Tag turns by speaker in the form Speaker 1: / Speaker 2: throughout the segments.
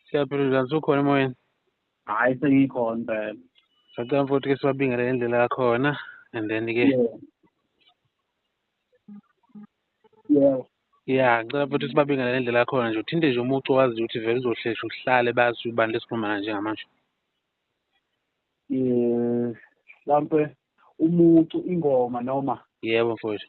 Speaker 1: Siyaphila njani sukhona emoyeni? Hayi
Speaker 2: sengikhona impela. Sacela mfowethu
Speaker 1: ke sibabingele ngendlela yakhona and then ke Yebo. ya ngicela mfowethu sibabingele ngendlela yakhona nje uthinte nje umucu owaziyo ukuthi vele uzohlesha uhlale bazi ubani lesikhuluma naye njengamanje. Eh mhlampe
Speaker 2: umucu ingoma noma Yebo mfowethu.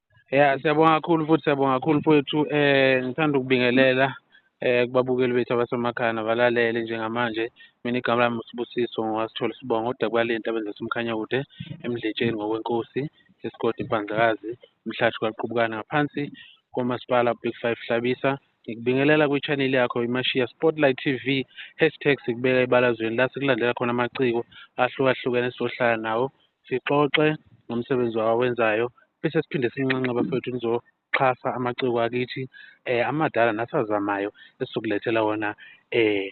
Speaker 1: ya siyabonga kakhulu futhi siyabonga kakhulu mfowethu um ngithanda ukubingelela um kubabukeli bethu abasemakhaya nabalalele njengamanje mina igama lami usibusiso ngowasithole sibonga odakubalenti abenza somkhanya kude emdletsheni ngokwenkosi esigodi impandlakazi umhlathi kwaqubukana ngaphansi komasipala big five hlabisa Ngikubingelela kwi-channel yakho iMashiya Spotlight TV hashtag sikubeka ebalazweni la sikulandela khona amaciko ahlukahlukene sizohlala nawo sixoxe ngomsebenzi wawenzayo bese siphinde sinxenxe bafethu nizoxhasa amaciko akithi um amadala nasazamayo esizokulethela wona um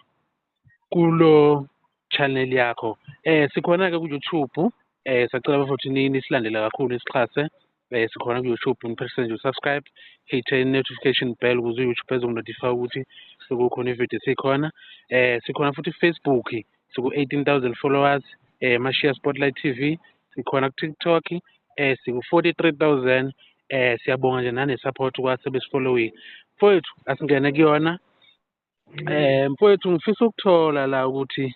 Speaker 1: kulo channel yakho eh sikhona ke ku YouTube eh sacela bafowethu nini silandele kakhulu isixhase eh sikhona ku YouTube niphethe nje subscribe hit notification bell ukuze YouTube ezokunotify ukuthi sekukhona ivideo sikhona eh sikhona futhi Facebook siku 18000 followers eh Mashiya Spotlight TV sikhona ku TikTok eh siku 43000 eh siyabonga nje nane support kwase besifollowing mfowethu asingene kuyona Eh mfowethu ngifisa ukuthola la ukuthi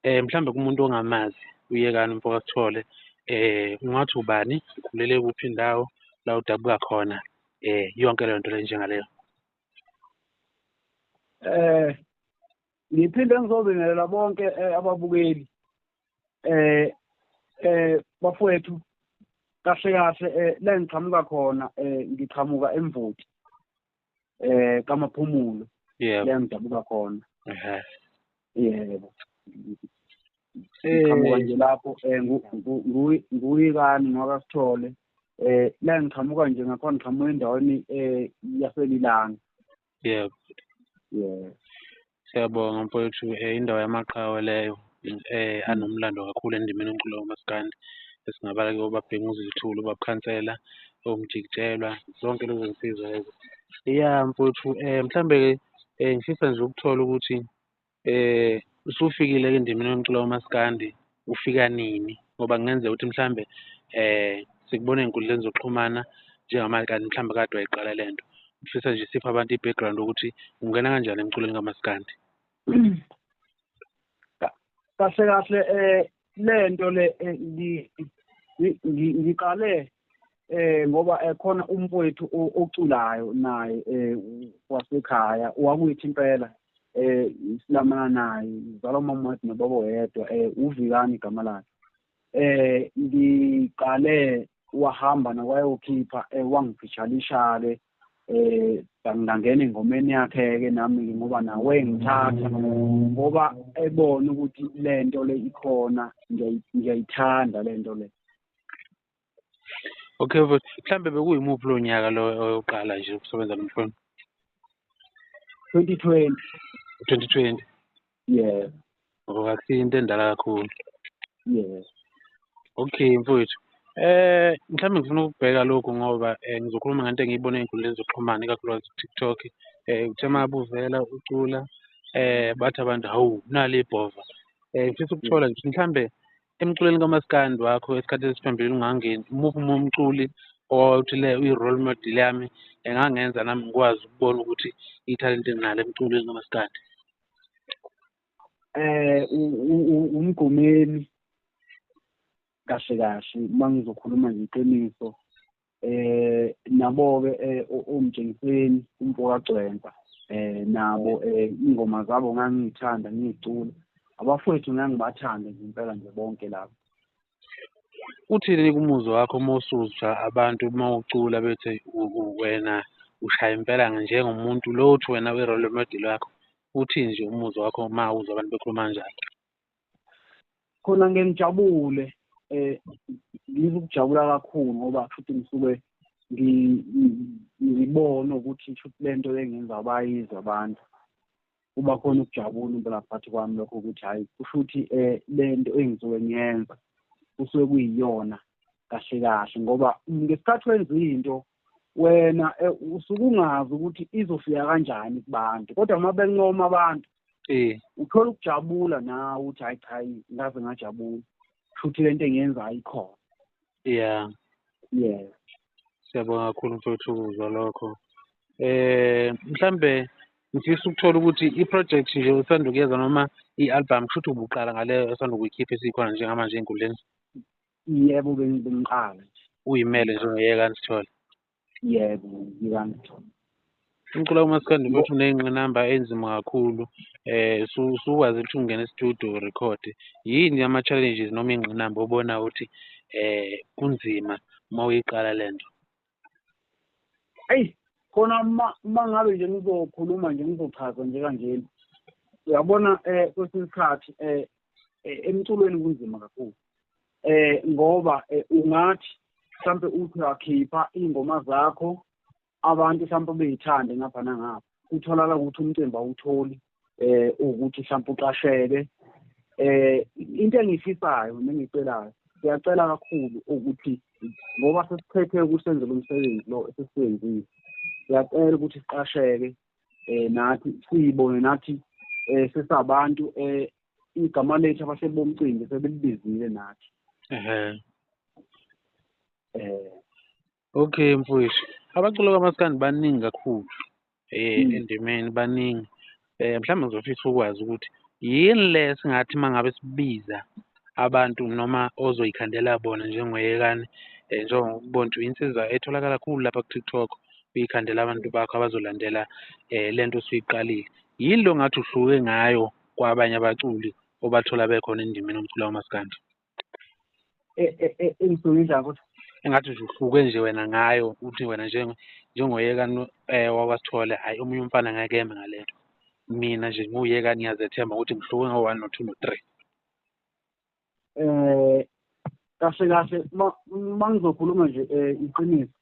Speaker 1: eh mhlambe kumuntu ongamazi uyekani mfoka sithole eh ungathi ubani ukhulele kuphi indawo la udabuka khona eh yonke leyo nto le njengaleyo
Speaker 2: eh ngiphinde ngizobingelela bonke eh, ababukeli eh eh bafowethu kahle kahle eh la ngiqhamuka khona eh ngiqhamuka emvoti eh kamaphumulo yebo la ngidabuka khona ehe yebo ngiqhamuka nje lapho eh nguyikani ngoba sithole eh la ngiqhamuka nje ngakhona ngiqhamuka endaweni eh yaselilanga yebo
Speaker 1: yebo Siyabonga mfowethu um indawo yamaqhawe leyo um anomlando kakhulu endimeni yomculo kamaskandi esingabala kuyo uBabhekumuzi Luthuli, uBab'Khansela, oMjik'jelwa zonke lezo zinsizwa lezo. Ya mfowethu um mhlambe-ke um ngifisa nje ukuthola ukuthi um usufikile-ke endimeni yomculo kamaskandi ufika nini ngoba kungenzeka ukuthi mhlawumbe eh sikubona ey'nkundleni zokuxhumana njengamanje kanti mhlawumbe kade wayiqala le nto ngifisa nje siphe abantu i-background ukuthi ungena kanjani emculweni kamaskandi
Speaker 2: kahle kahle eh lento le eh, ngiqale eh ngoba ekhona eh, umfowethu oculayo naye eh wasekhaya wakuyithi impela eh silamana naye uzalwa umama wakhe nobaba oyedwa eh uvikani igama lakhe eh ngiqale wahamba nakwayokhipha eh wangifishalishale eh ngangena engomeni yakhe ke nami ngoba nawe ngithatha ngoba ebona ukuthi lento le ikhona ngiyayithanda lento le
Speaker 1: Okay mfowethu, mhlambe bekuyimuphi lo nyaka lo oyoqala nje ukusebenza lo mfowenu? 2020. 2020.
Speaker 2: Yes.
Speaker 1: Ngoba oh, akusiyo into endala kakhulu. Yes. Okay mfowethu. Eh mhlawumbe ngifuna ukubheka lokhu ngoba eh, ngizokhuluma ngento engiyibona ey'nkundleni zokuxhumana ikakhulukazi ku-TikTok. Eh uthe uma buvela ucula eh bathi abantu hawu nali ibhova. Eh ngifisa ukuthola nje mhlambe emculweni kamaskandi wakho esikhathi esiphambili ungangeni umuphi uma umculi owawuthi le uyi-role model yami engangenza nami ngikwazi ukubona ukuthi ithalente nginalo emculweni kamaskandi eh
Speaker 2: umgomeni kahle kahle uma ngizokhuluma ngeqiniso eh nabo ke eh, umjengiseni umfoka Gcwensa eh nabo eh ingoma zabo ngangithanda ngicula abafowethu ngangibathanda nje impela nje bonke labo
Speaker 1: uthini kumuzwa wakho uma usuzwa abantu uma ucula bethe wena ushaya impela njengomuntu lo uthi wena we-role model wakho uthini nje umuzwa wakho uma uzwa abantu bekhuluma kanjalo
Speaker 2: khona ngeke ngijabule eh ngizokujabula kakhulu ngoba futhi ngisuke ngibone ukuthi futhi lento engenza abayizi abantu kuba khona ukujabula impela phakathi kwami lokho ukuthi hhayi kusho ukuthi um eh, le nto engisuke ngiyenza kusuke kuyiyona kahle kahle ngoba ngesikhathi wenza into wena eh, usuke ungazi ukuthi izofika kanjani kubantu kodwa uma bencoma abantu eh uthola ukujabula nawe ukuthi hayi cha ngaze ngajabula futhi lento engiyenzayo ikhona
Speaker 1: yeah yes siyabonga kakhulu mfowethu ukuzwa lokho eh mhlambe ngifisa ukuthola ukuthi i-project nje usanda kuyeza noma i-album kusho ukuthi ubuqala ngaleyo esanda kuyikhipha esikhona njengamanje ey'nkundleni Yebo
Speaker 2: bengiqala nje. Uyimele nje ungiyeka
Speaker 1: andithole. Yebo ngiyeka
Speaker 2: andithole. Umculo
Speaker 1: umaskandi futhi uney'ngqinamba enzima kakhulu eh usukwazi ukuthi ungene e-studio record yini ama-challenges noma iy'ngqinamba obona ukuthi eh kunzima uma uyiqala le nto eyi
Speaker 2: khona uma uma ngabe nje ngizokhuluma nje ngizochaza nje kanjena uyabona eh kwesinye isikhathi eh, eh emculweni kunzima kakhulu eh ngoba eh, ungathi mhlambe uthi wakhipha ingoma zakho abantu mhlambe beyithande ngapha nangapha kutholakala ukuthi umcimbi awutholi eh ukuthi mhlawumbe uqasheke eh into engifisayo nengicelayo siyacela kakhulu ukuthi ngoba sesiphethe ukusenzela umsebenzi lo esisenzile siyacela ukuthi siqasheke eh nathi siyibone nathi eh sesabantu eh igama lethu abahleli bomcimbi sebelibizile nathi ehe eh
Speaker 1: Okay mfwethu, abaculi kamaskandi baningi kakhulu um endimeni baningi. Um mhlawumbe ngizofisa ukwazi ukuthi yini le esingathi uma ngabe sibiza abantu noma ozoyikhandela bona njengoyekani um njengokubonja insizwa etholakala kakhulu lapha ku-TikTok uyikhandela abantu bakho abazolandela um le nto osuyiqalile. Yini le ongathi uhluke ngayo kwabanye abaculi obathola bekhona endimeni yomculo kamaskandi? e- e- e- engisuke idla ukuthi engathi nje uhluke nje wena ngayo uthi wena njengo njengoyeka no- eh wakwaSithole hayi omunye umfana ngeke eme ngale nto mina nje ngiwuyeka ngiyazethemba ukuthi ngihluke ngo-one no-two no-three eh kahle
Speaker 2: kahle ma- mangizokhuluma nje eh iqiniso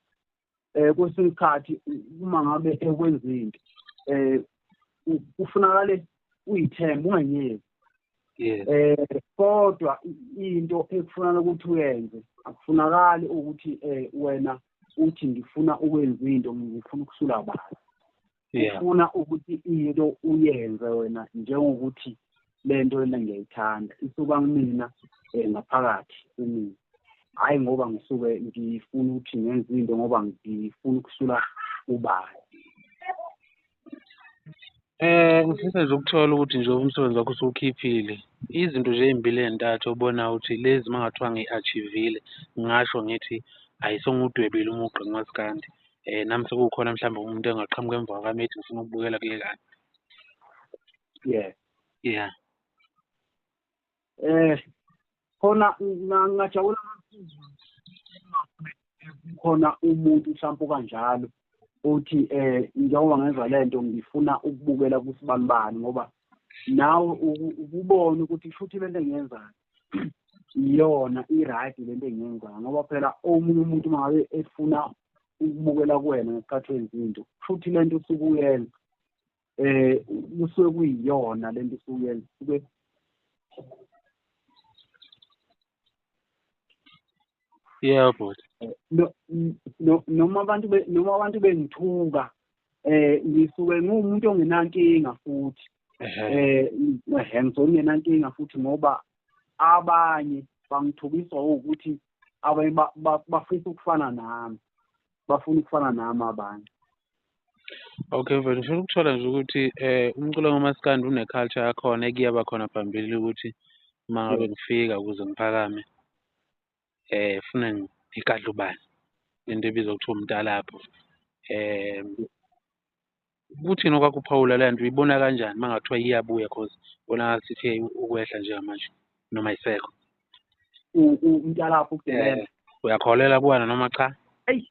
Speaker 2: eh kwesinye isikhathi uma ngabe ekwenza into eh kufunakale uyithembe ungayeki eh kodwa into ekufunana ukuthi uyenze akufunakali ukuthi eh wena uthi ngifuna ukwenza into ngifuna ukusula abantu ufuna ukuthi into uyenze wena njengokuthi le nto lena ngiyayithanda isuka kumina um ngaphakathi kumina hhayi ngoba ngisuke ngifuna ukuthi ngenze into ngoba ngifuna ukusula ubani
Speaker 1: Eh ngifisa nje ukuthola ukuthi nje umsebenzi wakho usuwukhiphile. Izinto nje ey'mbili ey'ntathu obona ukuthi lezi uma kungathiwa ngi-achieve-ile ngingasho ngithi hhayi sengudwebile umugqa kumaskandi. eh nami sekukhona mhlawumbe umuntu engaqhamuka emva kwami ethi ngifuna ukubukela kule kani yeah
Speaker 2: yeah eh khona ngajabula khona umuntu mhlawumbe kanjalo uthi eh njengoba ngenza lento ngifuna ukubukela kusibanibani ngoba nawe ukubona ukuthi futhi lento engiyenzayo iyona i-right le nto engiyenzayo ngoba phela omunye umuntu uma ngabe efuna ukubukela kuwena ngesikhathi wenza into futhi le nto usuke uyenza eh kusuke kuyiyona lento suyenza kube
Speaker 1: yeah but
Speaker 2: no noma abantu noma abantu bengithuka eh ngisuke ngumuntu ongenankinga futhi eh ngisuke ngenankinga futhi ngoba abanye bangithukiswa ukuthi abanye bafisa ukufana nami bafuna ukufana nami abanye
Speaker 1: Okay mfethu ngifuna ukuthola nje ukuthi eh umculo kamaskandi une-culture yakhona ekuyaba khona phambili ukuthi uma ngabe kufika ukuze ngiphakame. eh funa ngigadla ubani into ebizwa kuthiwa umtalabho eh kuthini okwakuphawula le nto uyibona kanjani uma ngathiwa iyabuya cause bonakala sithi ukwehla njengamanje noma isekho umtalabho
Speaker 2: ukudelela eh, uyakholelwa kuwena
Speaker 1: noma cha eyi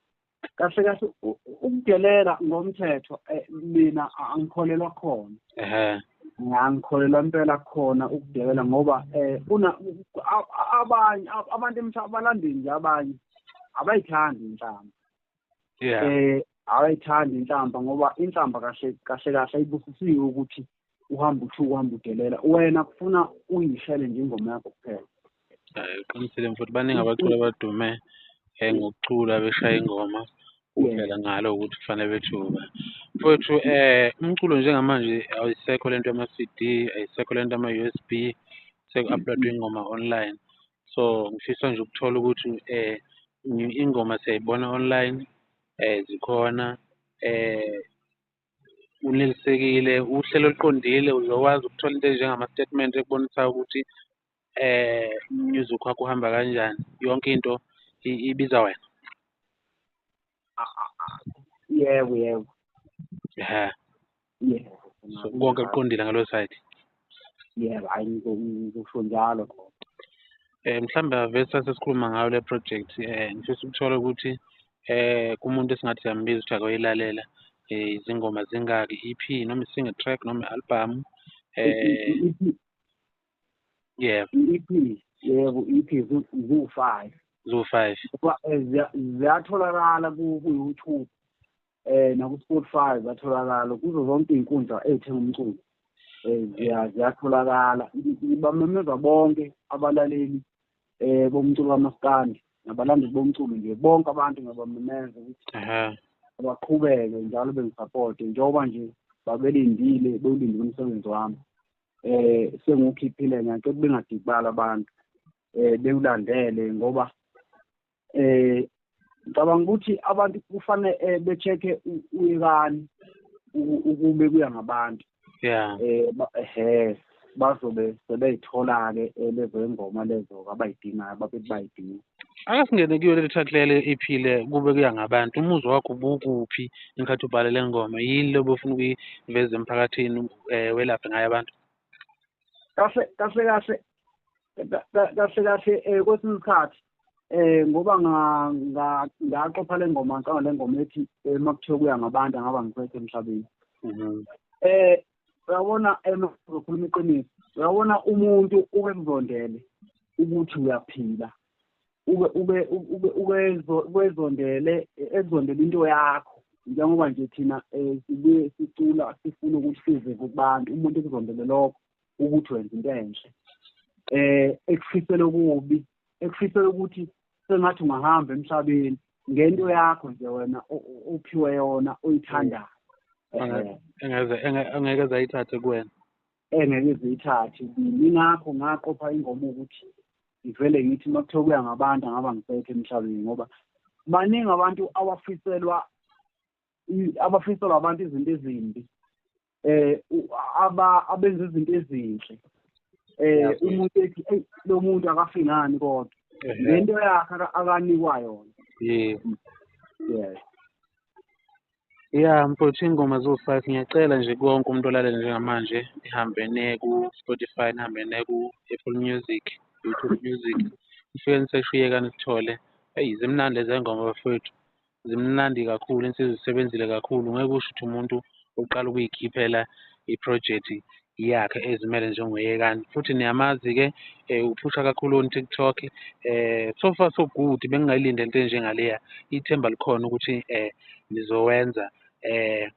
Speaker 2: kahle kahle ukudelela ngomthetho eh, mina angikholelwa khona ehe ngangikholelwa impela khona ukudelela ngoba eh una abanye abantu emhlaba balandini nje abanye abayithandi inhlamba yeah eh awayithandi inhlamba ngoba inhlamba kahle kahle kahle ayibusisiwe ukuthi uhamba uthuka uhamba udelela wena kufuna uyishele nje ingoma yakho kuphela Hhayi uqinisile
Speaker 1: mfowethu baningi abaculi abadume um ngokucula beshaya ingoma kuphela ngalo ukuthi kufanele bethuka. Mfowethu um umculo njengamanje ayisekho le nto yama-C_D, ayisekho le nto yama-U_S_B, seku-uploadwa ingoma online. So ngifisa nje ukuthola ukuthi um ingoma siyayibona online um zikhona um unelisekile uhlelo oluqondile uzokwazi ukuthola into enjengama-statement ekubonisayo ukuthi eh music wakho uhamba kanjani yonke into ibiza wena
Speaker 2: yebo yebo ya
Speaker 1: konke kuqondile ngalo side yebo
Speaker 2: hayi ngikusho njalo khona um mhlawumbe
Speaker 1: avesi sasikhuluma ngayo le project um ngifisa ukuthola ukuthi um kumuntu esingathi siyambiza ukuthi akoyilalela um izingoma zingaki i-ep noma i-single track noma i-albhamu um yebo i-ep
Speaker 2: yebo i-ep ziwu-five
Speaker 1: ziwu-five ziyatholakala
Speaker 2: ku-youtube eh naku-Spotify zatholakala kuzo zonke iy'nkundla ey'thenga umculo eh ziya- ziyatholakala ibamemeza bonke abalaleli eh bomculo kamaskandi nabalandeli bomculo nje bonke abantu ngiyabamemeza ukuthi Ehhe. baqhubeke njalo bengisapote njengoba nje babelindile bewulindile umsebenzi wami eh sengiwukhiphile ngiyacela bengadikibali abantu eh bewulandele ngoba eh ngicabanga ukuthi abantu kufanele eh, be-check-e uyekani ukube kuya ngabantu yeah eh ehe bazobe sebeyithola-ke eh, lezo ingoma lezo abayidingayo babethi bayidinga ake singene kuyo
Speaker 1: leli track lele iphile kube kuya ngabantu umuzwa wakho bukuphi ingathi ubhale le ngoma yini lobo ufuna ukuyiveza emphakathini um welaphe ngayo abantu kahle
Speaker 2: kahle kahle kahle kahle eh, kwesinye isikhathi eh ngoba ngaqopha le ngoma ngicanga le ngoma ethi eh, makuthiwa kuya ngabantu angaba ngiphethe emhlabeni mhm. eh uyabona emazokhuluma eh, iqiniso uyabona umuntu uke kuzondele ukuthi uyaphila ube ube ube ukwezondele ezondele into yakho njengoba nje thina um sibuye sicula sifuna ukuthi size kubantu umuntu ekuzondele lokho ukuthi wenza into enhle eh ekufisela okubi ekufisela ukuthi sengathi ungahamba emhlabeni ngento yakho nje wena ophiwe yona oyithandayo engeze
Speaker 1: engeke zayithathe kuwena engeke
Speaker 2: ziyithathe ingakho ngaqopha ingoma ukuthi ngivele ngithi uma kuthiwa kuya ngabantu angaba ngisekho emhlabeni ngoba baningi abantu abafiselwa abafiselwa abantu izinto ezimbi eh aba abenza izinto ezinhle eh umuntu ethi hey lo muntu akafiki ngani kodwa lento yakhe akanikwa yona yeah
Speaker 1: yes Yeah mfowethu ingoma ziwu-five ngiyacela nje kuwo wonke umuntu olalele njengamanje ihambe niye ku-Spotify nihambe niye ku-Apple Music, YouTube Music nifike nisesho iyekani sithole. Eyi zimnandi lezi ngoma bafowethu. zimnandi kakhulu insizwa isebenzile kakhulu ngeke usho ukuthi umuntu uqala ukuyikhiphela iprojekthi yakhe ezimele njengoyekani futhi niyamazi-ke um uphusha kakhulu on tiktok um eh, so far so good bengingayilinde into enjengaleya ithemba likhona ukuthi um nizowenza um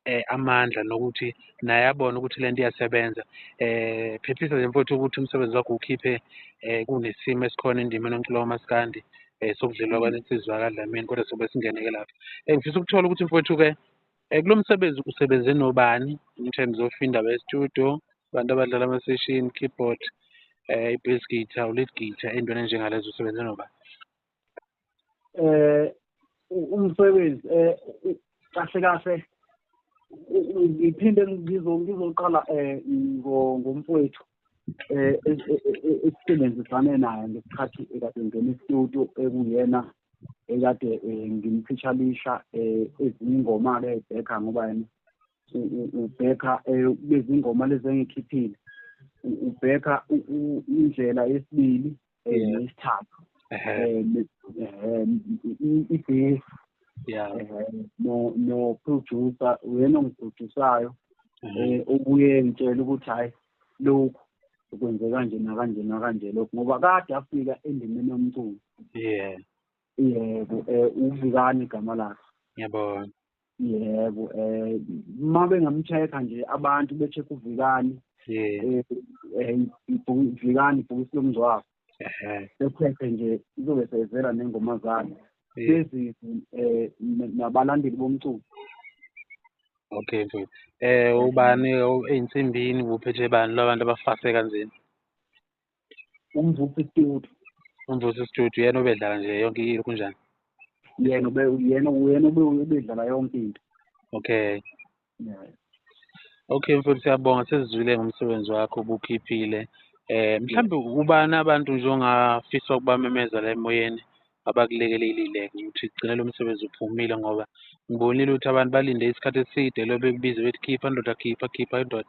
Speaker 1: eh, amandla nokuthi naye abone ukuthi le nto iyasebenza eh phephisa nje mfowethu ukuthi umsebenzi wakho ukhiphe eh kunesimo esikhona endimeni yomculo wamaskandi eh sokudlelwa kwanensizwa kadlamini kodwa sobe singeneke lapho engifisa eh, ukuthola ukuthi mfowethu-ke eh, kulo msebenzi usebenze nobani in terms of indaba yestudio abantu abadlala ama-session keyboard eh i-bass guitar u-lead guitar entweni enjengalezo usebenze nobani eh
Speaker 2: umsebenzi eh kahle kahle ngiphinde ngizo ngizoqala eh ngomfowethu eh esisebenzisane naye ngesikhathi ekade ngene studio ekuyena ekade eh, ngimphishalisha eh, ezinye ingoma ke ebhekha ngoba yena ubhekha eh, bezingoma lezi engikhiphile ubhekha indlela yesibili ngesithathu ibase yeah no no producer uyena ongiprodusayo eh obuye ngitshela ukuthi hayi lokhu kwenze kanje nakanje nakanje lokhu ngoba kade afika endimeni yomculo yeah yebo eh uvikani igama lakhe ngiyabona
Speaker 1: yebo
Speaker 2: eh uma bengamcheck-a nje abantu be-check uvikani eh, eh, ibhuku- vikani ibhokisi lomngcwabo ehe becheck-e nje izobe seyivela nengoma zakhe eh, bezizwe um nabalandeli bomculo
Speaker 1: okay mfowethu eh ubani o- eyinsimbini kuphethe bani labantu abafase kanzima umvusi
Speaker 2: studio umvusi studio
Speaker 1: yena obedlala nje yonke into kunjani yena ube
Speaker 2: yena uyena obedlala yonke into okay
Speaker 1: yeah. okay mfowethu siyabonga sesizwile ngomsebenzi wakho ubukhiphile eh mhlawumbe ubani abantu nje ongafisa ukubamemeza la emoyeni abakulekelelile ukuthi gcine lo msebenzi uphumile ngoba ngibonile ukuthi abantu balinde isikhathi eside lo bekubize bethi khipha ndoda khipha khipha indoda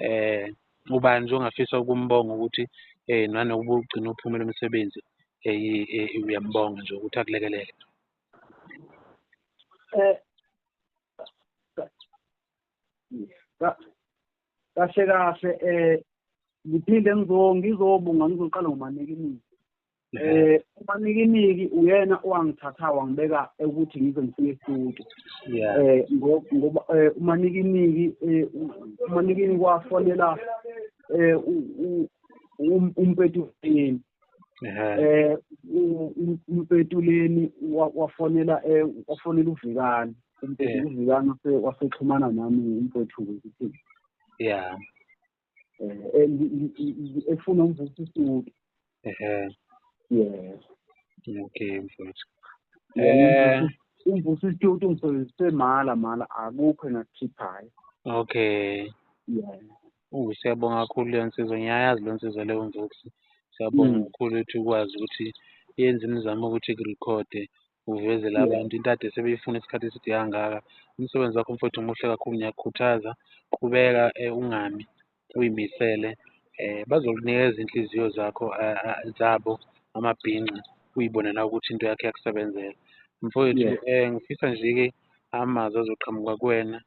Speaker 1: um ubani nje ongafisa ukumbonga ukuthi eh nanokuba ugcina uphumela umsebenzi eh uyambonga nje ukuthi akulekelele eh
Speaker 2: kahle kahle eh ngiphinde ngizobonga ngizoqala ngomanike imizi Eh umanikiniki uyena owangithatha wangibeka ukuthi ngize ngifike estudio. Yeah. Eh ngoba eh, umanikiniki eh, umanikiniki wafonela eh umpetuleni. Eh umpetuleni wafonela eh wafonela uvikani. Umpetuleni uvikani wasexhumana nami umpethu ukuthi. Yeah. eh, efuna umvusa isudi yes okay
Speaker 1: mfowethu eh
Speaker 2: umvusa isitutu ngisebenzise mala mala akukho engakukhiphayo okay
Speaker 1: yeah Oh siyabonga kakhulu leyo nsizwa ngiyayazi leyo nsizwa leyo mvusi siyabonga mm. kakhulu ukuthi ukwazi ukuthi yenze imizamo ukuthi ikurekhode uvezela abantu into ade sebeyifuna isikhathi eside kangaka. Umsebenzi wakho mfowethu muhle kakhulu, ngiyakukhuthaza qhubeka eh, ungami uyimisele eh bazokunikeza inhliziyo zakho eh, eh, zabo amabhinca uyibone na ukuthi into yakho iyakusebenzela mfowethu Yes. eh ngifisa nje-ke amazwi azoqhamuka kuwena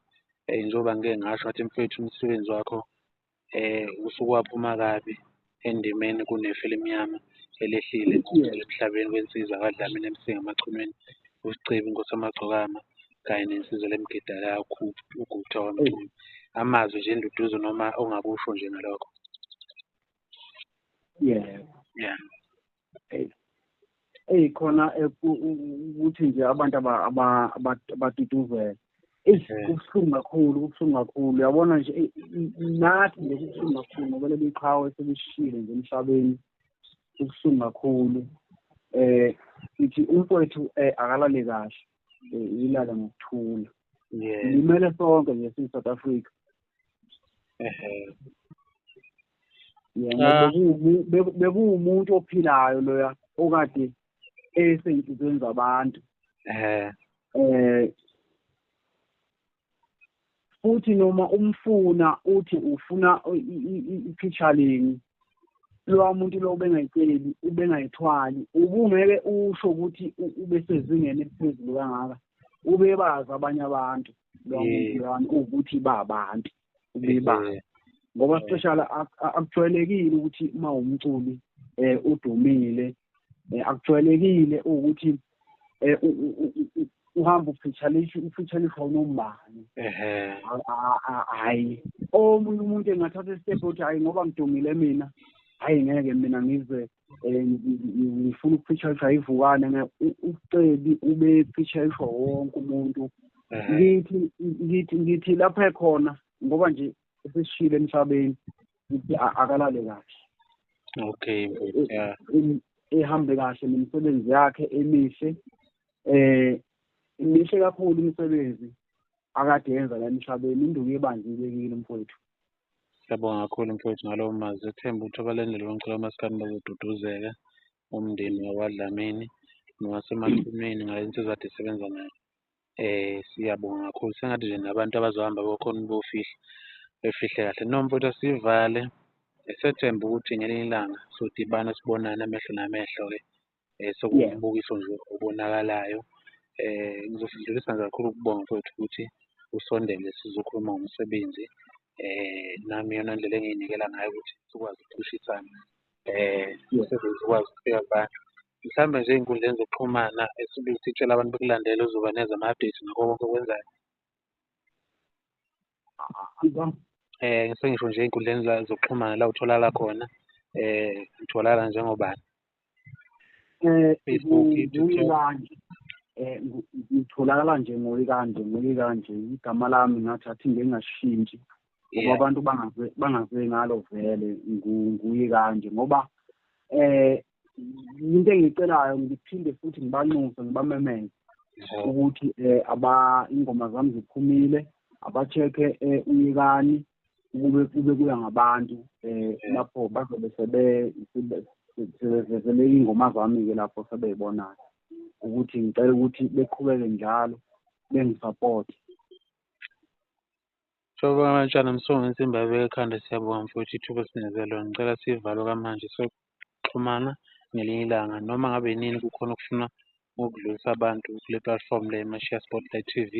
Speaker 1: eh njengoba ngike ngasho ngathi mfowethu umsebenzi wakho usuke waphuma kabi endimeni kunefu elimnyama elehlile emhlabeni kwensizwa kaDlamini MC Ngamachunwini uSicebi Nkosi Amagcokama kanye nensizwa lemgidala uGupta wamcula amazwi nje enduduzo noma ongakusho nje ngalokho. Yeah. Yeah.
Speaker 2: eyi khona ukuthi nje abantu abatutuzela eish eh. kubuhlungu kakhulu kubuhlungu kakhulu uyabona nje nathi nje kubuhlungu kakhulu ngoba leli qhawe selishile nje emhlabeni kubuhlungu kakhulu eh ngithi umfowethu eh, akalale kahle eh, ilale ngokuthula limele sonke nje siyi-south africa Ah. bekuwumuntu ophilayo loya okade esey'nhlizweni zabantu um um futhi noma umfuna uthi ufuna iphitshaleni lowa muntu lo ubengayiceli ubengayithwali ubungeke usho ukuthi ubesezingeni eliphezulu kangaka ubebazi abanye abantu lwamuntulwami ukuthi babantu ubebazi ngoba speciala akujwayelekile ukuthi uma umculi um udumile um akujwayelekile ukuthi um uhamba uphitshalisha uphitshalisha unombani hhayi omunye umuntu engathatha isitephi ukuthi hhayi ngoba ngidumile mina hhayi ngeke mina ngize eh, ngifuna ukufeaturisha ivukane ne ucebi ube featurisha wonke umuntu mhm. ngithi ngithi ngithi lapha ekhona ngoba nje esishile emhlabeni ngithi akalale kahle okay
Speaker 1: yeah ehambe
Speaker 2: kahle nemisebenzi yakhe emihle eh imihle kakhulu imisebenzi akade yenza la emhlabeni induku ebanjile kini mfowethu Siyabonga
Speaker 1: kakhulu mfowethu ngalowo mazwi ethemba ukuthi abalandeli bomculo kamaskandi bazoduduzeka umndeni wakwaDlamini nowasemathuneni ngale nsizwa ade sebenza nayo. Eh siyabonga kakhulu sengathi nje nabantu abazohamba bokhona ukuyofihla befihle kahle. No mfowethu asivale esethemba ukuthi ngelinye ilanga sodibana sibonane amehlo namehlo-ke um sekuwumbukiso nje obonakalayo. um Ngizosindlulisa nje kakhulu ukubonga mfowethu ukuthi usondele sizokhuluma ngomsebenzi. um Nami iyona ndlela engiyinikela ngayo ukuthi sikwazi ukucushisana um umsebenzi ukwazi ukufika kubantu. Mhlawumbe nje ey'nkundleni zokuxhumana esibili sitshela abantu bekulandele uzoba nezama-update ngakho konke okwenzayo. eh sengisho nje ey'nkundleni zokuxhumana la utholakala khona eh utholakala njengobani eh Facebook kanje
Speaker 2: eh ngitholakala nje ngoyi kanje ngoyi kanje igama lami ngathi athi ngeke ngashintshi ngoba abantu bangaze bangaze ngalo vele nguyi kanje ngoba eh into engiyicelayo ngiphinde futhi ngibanxuse ngibamemeze ukuthi eh aba ingoma zami ziphumile abacheke eh, uyekani ukube kube kuya ngabantu eh lapho bazobe sebe sebevele ingoma zami ke lapho sebeybonayo ukuthi ngicela ukuthi beqhubeke njalo bengisupport
Speaker 1: Mhlobo kaMatshana Msonge insimbi ayibeke ekhanda siyabonga mfowethu ithuba osinikeze lona ngicela siyivale okwamanje soxhumana ngelinye ilanga noma ngabe yinini kukhona okufuna ukudlulisa abantu kule platform le Mashiya Spotlight T_V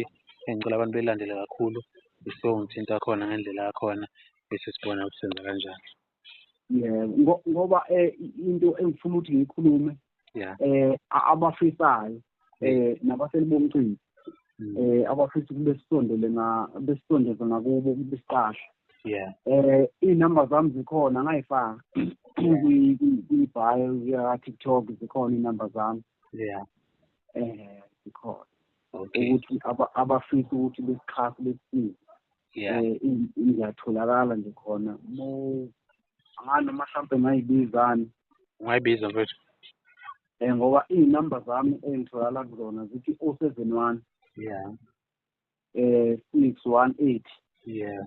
Speaker 1: engicela abantu beyilandele kakhulu bese uyongithinta khona ngendlela yakhona bese sibona ukuthi senza kanjani. yebo
Speaker 2: ngoba eh, into engifuna ukuthi ngiyikhulume eh abafisayo eh nabaseli bomcimbi mm. eh abafisa kube sisondele nga besisondeze ngakubo kube siqasha yeah eh inamba zami zikhona ngayifaka kwi-bio ya TikTok zikhona inamba zami yeah eh zikhona okay. ukuthi abafisa ukuthi besixhase besisize yeah. um eh, ngiyatholakala nje khona mo angani noma mhlawumpe ngayibizani ungayibiza
Speaker 1: mfethu um ngoba
Speaker 2: iy'number zami engitholakala kuzona zithi o oh seven one yeah um six one eight yeah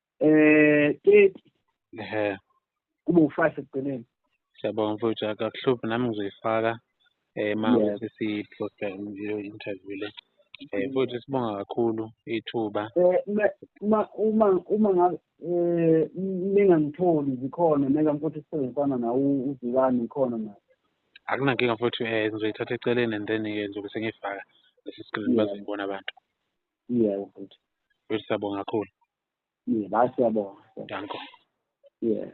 Speaker 2: eh 30 ehe kube u-five ekugcineni siyabonga mfowethu
Speaker 1: akakuhluphi nami ngizoyifaka eh ma Yes. ukuthi siposta leyo interview le eh mfowethu sibonga kakhulu ithuba Eh, me- uma
Speaker 2: uma uma ngabe eh, ningangitholi zikhona neka mfuthu isifana nawo uzikani ngikhona na akunankinga
Speaker 1: mfowethu eh ngizoyithatha eceleni and then ke ngizobe sengiyifaka lesi screen Yeah. bazoyibona abantu Yebo mfowethu. Mfowethu siyabonga kakhulu.
Speaker 2: Yebo, hayi siyabonga.
Speaker 1: Danko. Yebo.